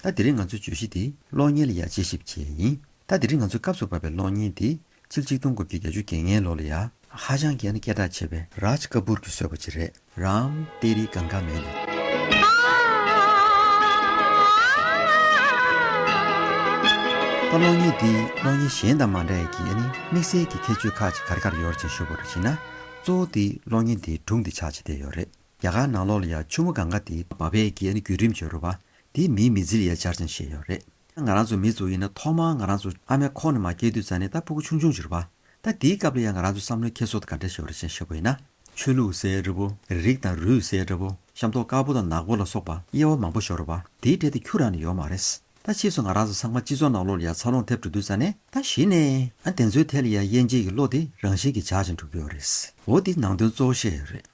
ད་དེ་རིང་ང་ཚོའི་བརྗོད་གཞི་འདི་གློག་བརྙན་ལ་ཡང་དཔྱད་ཞིབ་བྱས་ཡིན། ད་དེ་རིང་ང་ཚོས་སྐབས་སུ་བབས་པའི་གློག་བརྙན་འདི་ཚིག་གཅིག་སྟོང་དགུ་བརྒྱ་གྱ་བཅུ་བརྒྱད་ལྔའི་ལོ་ལ་ཡང། ཧ་ཅང་གལ་ན་སྐད་གྲགས་ཆེ་བའི Raj Kapoor གྱིས་བཟོས་པ་ཅིག་རེད། Ram Teri Ganga མའི་ལུགས། ད་གློག་བརྙན་འདི་གློག་བརྙན་གཞན་དང་མ་འདྲ་ཡི་གི་ཡ་ནི་དམིགས་བསལ་གྱི་ཁྱད་ཆོས་ཁག་ཅིག་ག་རེ་ག་རེ་ཡོད་རེ་བྱིན་ཤོད་པ་རེ་བྱིན་ན། གཙོ་བོ་དེ་གློག་བརྙན་འདིའི་སྒྲུང་འདི་ཆགས་ཆེ་བསྡད་ཡོད་རེད། རྒྱ་གར་ནང་ལོགས་ལ་ཡང་ཆུ་མོ་གང་ག་དེའི་འབབ་འཕེལ་གྱི་ནི་རྒྱུད་རིམ་བྱེད་རོལ་བ། དེའི་མིང་མི་ཛིལ་ཡའི་སྦྱར་ཅིང་བཤད་ཡོད་རེད། ང་རང་ཚོ་མི་ཚོ་ཡིན་ན་ཐོག་མར་ང་རང་ཚོ་ཨ་མའི་ཁོག་ནས་མ་སྐྱེས་དུས་ཙང་ནས་ད་ཕུ་གུ་ཆུང་ཆུང་བྱེད་རོལ་བ། ད་དེའི་སྐབས་ལ་ཡང་ང་རང་ཚོའི་བསམ་བློའི་འཁྱེར་སོ་དང་ག་འདྲ་ཞེས་པ་རེ་ཅན་བཤད་པོ་ཡིན་ན། ཆོས་ལུགས་སའི་རི་བོ། རིགས་དང་རུས་སའི་འདྲ་བོ། ཤམ་ཐོག་དཀར་པོ་དང་ནག་པོ་ལ་སོགས་པ། དབྱེ་བ་མང་པོ་ཞོག་རོལ་བ། དེའི་གྲས་དེ་ཁྱུ་རང་ནས་ཡོག་མ་རེད། ད་ཕྱིས་སུ་ང་རང་ཚོ་ཚང་མ་སྤྱི་ཚོགས་ནང་བློ་ལ་ཡ་མཚར་ལོང་ཐེབས་འགྲོ་དུས་ཙང་ནས་ད་གཞི་ནས་ཨ་བདེན་ཚོའི་ཐད་ལ་ཡ་དབྱེ་འབྱེད་ཀྱི་བློ་དེ་རང་བཞིན་གྱིས་འཇགས་ཅིང་འགྲོ་གི་ཡོད་རེད། འོ་འདི་ནང་དོན་གཙོ་བོ་བཤད་ཡོད་རེད།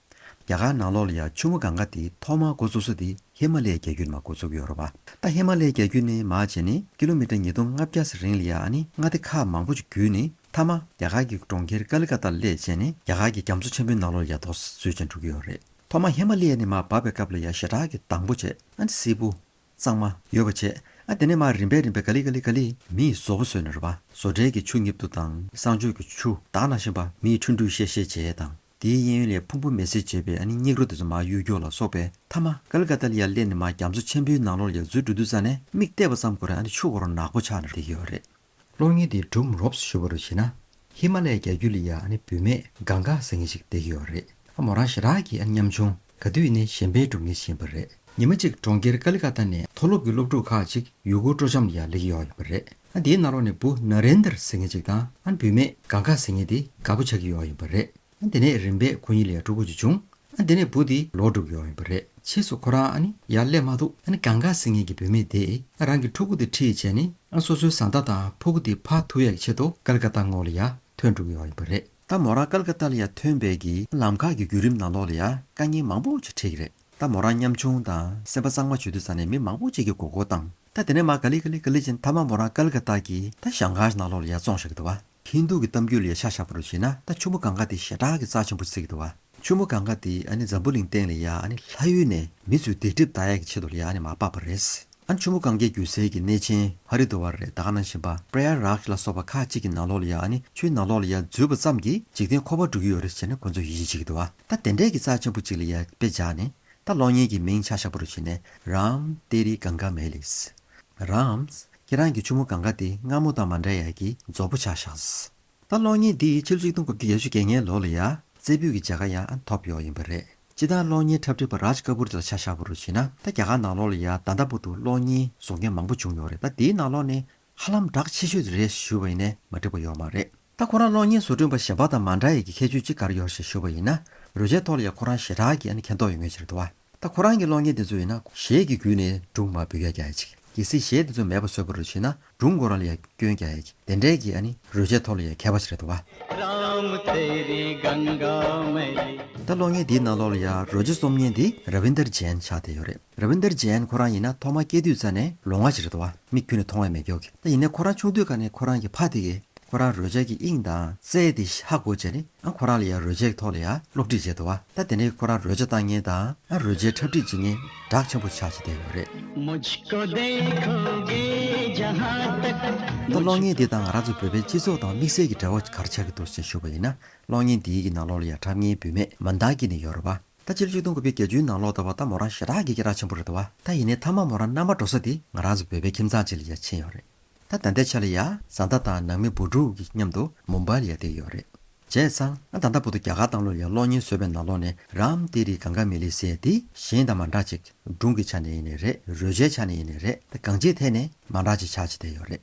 རྒྱ་གར་ནང་བློ་ལ་ཡ་ཆུ་མོ་གང་ག་དེ་ཐོག་མར་འགོ་བཙུགས་ས་དེ་ཧི་མ་ལའི་རྒྱལ་རྒྱུད་ནས་མ་འགོ་བཙུགས་ཀྱི་ཡོད་རེད་བ། ད་ཧི་མ་ལའི་རྒྱལ་རྒྱུད་ནས་མ་བྱས་ནས་ཀི་ལོ་མི་ཏྲ་ཉིས་སྟོང་ལྔ་བརྒྱ་ཟེར་རིང་ལ་ཡ་ཨ་ནི་མངའ་སྡེ་ཁག་མང་པོ་ཅིག་བརྒྱུད་ནས་མཐའ་མ་རྒྱ་གར་གྱི་གྲོང་ཁྱེར་ཀ་ལི་ཀ་ཏཱ་ལས་བྱས་ནས་རྒྱ་གར་གྱི་རྒྱ་མཚོ་ཆེན་པོའི་ནང་བློ་ལ་ཡ་རྡོག་བཟོས་ཅིང་འགྲོ་གི་ཡོད་རེད། ཐོག་མར་ཧི་མ་ལའི་ནས་མ་བབས་པའི་སྐབས་ལ་ཡ་ཞེ་དྲག་གི་དང་པོ་བྱས། ཨ་འདི་སིལ་བུ། གཙང་མ། ཡོད་པར་བྱས། ཨ་དེ་ནས་མར་རིམ་པས་རིམ་པས་ག་ལི་ག་ལི་ག་ལི། མི་ཡིས་བཟོ་བོ་བཟོས་ནས་རོལ་པ། བཟོ་གྲྭའི་གི་ཆུ་སྙིབ་དུག་དང་བསང་མཆོད་ཀྱི་ཆུ། དག་ནང་བཞིན་པ། མི་ཡི་འཕྲུལ་འདུས་གཤེ་གཤེ་བྱས་དང། དེའི་གཡས་གཡོན་ལས་ཕུང་པོ་མེ་སྲེག་བྱས་པས་ཨ་ནི་སྙིགས་རོ་དེ་ཚོ་མ་གཡུ་སྒྱོགས་ལ་སོགས་པས་མཐའ་མ། ཀ་ལི་ཀ་ཏཱ་ལི་ཡར་སླེབས་ནས་མ་རྒྱ་མཚོ་ཆེན་པོའི་ནང་ལོགས་ལ་ཡག་རྫུའི་འབྲུ་དུ་བཙའ་ནས་མིག་བལྟས་པ་ཙམ་གོ་རེ་ཨ་ནི་ཆུ་བོ་རོ་ནག་པོ་ཆགས་ནས་བསྡད་ཀྱི་ཡོད་རེད། གློག་བརྙན་འདི་སྒྲུབ་རོབ་སུ་ཞུ་བ་རུ་བྱེད་ན་ཧི་མ་ལའི་རྒྱ་རྒྱུད་ལི་ཡ་ནི་བུད་མེད་གང་དགའ་ཟེར་མཁན་ཞིག་བསྡད་ཀྱི་ཡོད་རེད་ཨ་མོ་རང་ཞེ་དྲག་གི་ཨ་ཉམ་ཆུང་ག་དུས་ནས་གཞན་པའི་སྒྲུབ་བརྙན་ཤེས་པ་རེད། ཉི་མ་གཅིག་གྲོང་ཁྱེར་ཀ་ལི་ཀ་ཏཱ་ནས་མཐོ་སློབ་ཀྱི་སློབ་ཕྲུག་ཁག་ཅིག་ཡུ་གུར་སྤྲོ་འཆམ་ལ་ཡར་ལེགས་ཀྱི་ཡོང་ཡོད་པ་རེད་ཨ་དེའི་ནང་ལོགས་ནས་བུ་ན་རེན་དར་ཟེར་མཁན་ཅིག་དང་ཨ་བུད་མེད་གང་དགའ་ཟེར་མཁན་དེ་དགའ་པོ་ཆགས་ཀྱི་ཡོང་ཡོད་པ་རེད། ཨ་དེ་ནས་རིམ་པས་ཁོ་གཉིས་ལས་དྲུག་པོ་ཅིག་བྱུང། ཨ་དེ་ནས་བུ་དེ་ལོ་དྲུག་ཡོང་ཡོད་པ་རེད་ཕྱིས་སུ་ཁོ་རང་ཨ་ནི་ཡར་སླེབས་མ་ཐུབ་ཨ་ནི་གངས་དཀར་སིང་ངེ་གི་བུད་མེད་དེས་ཨ་རང་གི་ཕྲུ་གུ་དེ་ཁྲིད་བྱས་ནས་ཨ་སོ་སོའི་བཟའ་ཟླ་དང་ཕོ་གུ་དེ་ཕར་ཐུག་ཡག་ཆེད་དུ་ཀལ་ཀ་ཏ་ངོགས་ལ་ཡར་ཐོན་འགྲོ་གི་ཡོང་ཡོད་པ་རེད། ད་མོ་རང་ཀལ་ཀ་ཏ་ལ་ཡར་ཐོན་བས་ཀྱི་ཨ་ལམ་ཁ་གི་བརྒྱུད་རིམ་ནང་ལོགས་ལ་ཡར་དཀའ་ངལ་མང་པོ་ཞིག་འཕྲད་ཀྱི་རེད་ད་མོ་རང་ཉམ་ཆུང་དང་སེམས་པ་གཙང་མ་བྱོས་དུས་ས་ནས་མི་མང་པོ་ཅིག་གི་མགོ་སྐོར་བཏང་ད་དེ་ནས་མ་ག་ལི་ག་ལི་ག་ལི་ཅན་ད་མ་མོ་རང་ཀལ་ཀ་ཏ་གི་ད་ཞང་ཁར་ནང་ལོགས་ལ་ཡར་བཙོང་བཞག་གི་འདུག་བ། ཧིན་དུ་གི་གཏམ་རྒྱུད་ལ་ཡ་ཤག་ཤག་པོ་རུ་བྱས་ན་ད་ཆུ་མོ་གངྒཱ་དེ་ཞེ་དྲག་གི་རྩ་ཆེན་པོ་ཟེར་གི་འདུག་བ། ཆུ་མོ་གངྒཱ་དེ་ཨ་ནི་འཛམ་བུ་གླིང་སྟེང་ལ་ཡ་ཨ་ནི་ལྷ་ཡུལ་ནས་མི་ཚོས་སྡིག་སྒྲིབ་དག་ཡ་གི་ཆེད་དུ་ལ་ཡ་ཨ་ནི་མ་སྤགས་པ་རེད། ཨ་ནི་ཆུ་མོ་གངྒཱའི་རྒྱུ་ཟས་ཀྱི་གནས་ཆེན་ཧ་རི་དུའ་བ་རེད་དག་ན་བཞིན་པ་པྲེཡ་རཱག་ལ་སོགས་པ་ཁག་གཅིག་གི་ནང་ལོགས་ལ་ཡ་ཨ་ནི་ཆུའི་ནང་ལོགས་ལ་ཡ་འཛུལ་བ་ཙམ་གྱིས་འཇིག་རྟེན་འཁོར་བ་འགྲོ་གི་ཡོད་རེད་ཟེར་ན་ཁོ་ཚོས་ཡིད་ཆེས་བྱེད་གི་འདུག་བ། ད་དེ་འདྲས་ཀྱི་རྩ་ཆེན་པོ་གཅིག་ལ་ཡ་དཔེ་བཞག་ནས་ད་གློག་བརྙན་གྱི་མིང་ཆགས་ཤག་པོ་རུ་བྱས་ནས་རཱམ་ཏེ་རི་གངྒཱ་མེ་ལིས། Rams། ཁྱེད་རང་གི་ཆུ་མོ་གང་ག་དེ་སྔ་མོ་དང་མ་འདྲ་ཡག་གི་རྫོབ་པོ་ཆགས་ཤགས། ད་གློག་བརྙན་འདི་ཕྱི་ལོ་ཆིག་སྟོང་དགུ་བརྒྱ་ཡས་བཅུ་གྱ་ལྔའི་ལོ་ལ་ཡ་རྩེ་ཕུད་ཀྱི་བྱ་དགའ་ཡང་ཐོབ་ཡོག་ཡིན་པ་རེད་སྤྱི་དང་གློག་བརྙན་འཁྲབ་ཁྲིད་པ་རཱཇ་ཀ་པུར་དེ་ལ་ཆ་ཤགས་པོ་རུ་བྱེད་ན་ད་རྒྱ་གར་ནང་ལོག་ལ་ཡ་ད་ལྟ་བུ་དུ་གློག་བརྙན་བཟོ་མཁན་མང་པོ་བྱུང་ཡོག་རེད་ད་དེའི་ནང་ལོག་ནས་ཧ་ལམ་བསྒྲགས་ཆེ་ཤོས་དེ་རེད་ཞུ་བ་ཡིན་ནས་མ་འགྲིག་པ་ཡོག་མ་རེད་ད་ཁོ་རང་གློག་བརྙན་བཟོ་སྐྲུན་པ་གཞན་པ་དང་མ་འདྲ་ཡག་གི་ཁྱད་ཆོས་ཅི་ག་ར་ཡོག་ཞེས་ཞུ་བ་ཡིན་ན་རུ་ཆའི་ཐོག་ལ་ཡ་ཁོ་རང་ཞེ་དྲག་གི་མཁྱེན་རྟོགས་ཡོད་ངེས་ཆེར་འདུག་བ། ད་ཁོ་རང་གི་གློག་བརྙན་དེ་ཚོ་ཡིན་ན་གཞས་ཀྱི་རྒྱུད་ནས་སྒྲུང་མ་བོད་རྒྱ་ཡ་ཅིག་གི་སི་གཞས་དེ་ཚོ་མེད་པ་བཟོས་པ་རུ་བྱེད་ན་སྒྲུང་མགོ་རང་ལ་ཡ་སྐྱོན་རྒྱ་ཡ་ཅིག་དེ་འདྲའི་གི་ཨ་ནི་རོལ་ཆས་ཐོག་ལ་ཡ་ཁྱད་པ་ཅིག་རེད་འདུག་བ། ད་གློག་བརྙན་དེའི་ནང་ལོག་ལ་ཡ་རོལ་ཆས་རྩོམ་ཉན་དེ Ravinder Jain ཆགས་བསྡད་ཡོད་རེད Ravinder Jain ཁོ་རང་ཡིན་ན་ཐོག་མ་སྐྱེས་དུས་ཙ་ནས་ལོ་ངག་ཅིག་རེད་འདུག་བ་མིག་ཁྱུ་ནས་མཐོང་བས་མེད་ཀྱོག་གི་ད་ཡིན་ནས་ཁོ་རང་ཆུང་དུས་ཀ་ནས་ཁོ་རང་གི་ཕ་དེ་གིས་ཁོ་རང་རོལ་ཆས་ཀྱི་དབྱིངས་དང་རྩལ་དེ་ཧ་གོ་བྱས་ནས་ཨ་ཁོ་རང་ལ་ཡང་རོལ་ཆའི་ཐོག་ལ་ཡང་སློབ་ཁྲིད་བྱས་འདུག་ཨ་ད་དེ་ནས་ཁོ་རང་རོལ་ཆ་བཏང་ཉེན་དང་ཨ་རོལ་ཆའི་འཁྲབ་ཁྲིད་བྱེད་ཉེན་གྲགས་ཆེན་པོ་ཆགས་བྱས་བསྡད་ཡོད་རེད། ད་གློག་བརྙན་འདི་དང་ང་རང་ཚོ་བོད་པའི་སྤྱི་ཚོགས་དང་དམིགས་བསལ་གྱི་འབྲེལ་བ་གར་ཆགས་ཀྱི་འདུག་ཅེས་ཞུ་བ་ཡིན་ན་གློག་བརྙན་འདིའི་གི་ནང་ལོགས་ལ་ཡང་འཁྲབ་ཉེན་བུད་མེད་མ་མདང་སྐྱིད་ནི་ཡོད་རེད་བ། ད་ཕྱི་ལོ་ཆིག་སྟོང་དགུ་བརྒྱ་བརྒྱད་ཅུའི་ནང་ལོགས་ད་བ་ད་མོ་རང་ཞེ་དྲག་གི་གི་རག་ཆེན་པོ་རེད་བ། ད་ཡིན་ནའི་ཐ་མ་མོ་རང་མནའ་མ་འགྲོ་ས་དེ་ང་རང་ཚོ་བོད་པའི་ཁྱིམ་ཚང་གཅིག་ལ་ཡང་ཕྱིན་ཡོད་རེད། ད་ད་ལྟའི་ཆ་ལ་ཡ། བཟའ་ཟླ་དང་ནང་མི་བུ་ཕྲུག་གི་མཉམ་དུ་མུམ་པར་ཡལ་དུས་ཡོད་རེད། བྱས་ཙང་ང་ད་ལྟ་བུ་དུ་རྒྱ་གར་བཏང་ལོ་ཡང་གློག་བརྙན་བཟོས་པའི་ནང་ལོག་ནས་རམ་ལྟས་རིགས་གང་ག་མི་ལི་སེ་འདི་གཞན་དང་མ་འདྲ་ཅིག་སྒྲུང་གི་ཆ་ནས་ཡིན་ནི་རེད་རོལ་ཆའི་ཆ་ནས་ཡིན་ནི་རེད་ད་གང་ཅིའི་ཐད་ནས་མ་འདྲ་ཅིག་ཆགས་ཅི་བསྡད་ཡོད་རེད།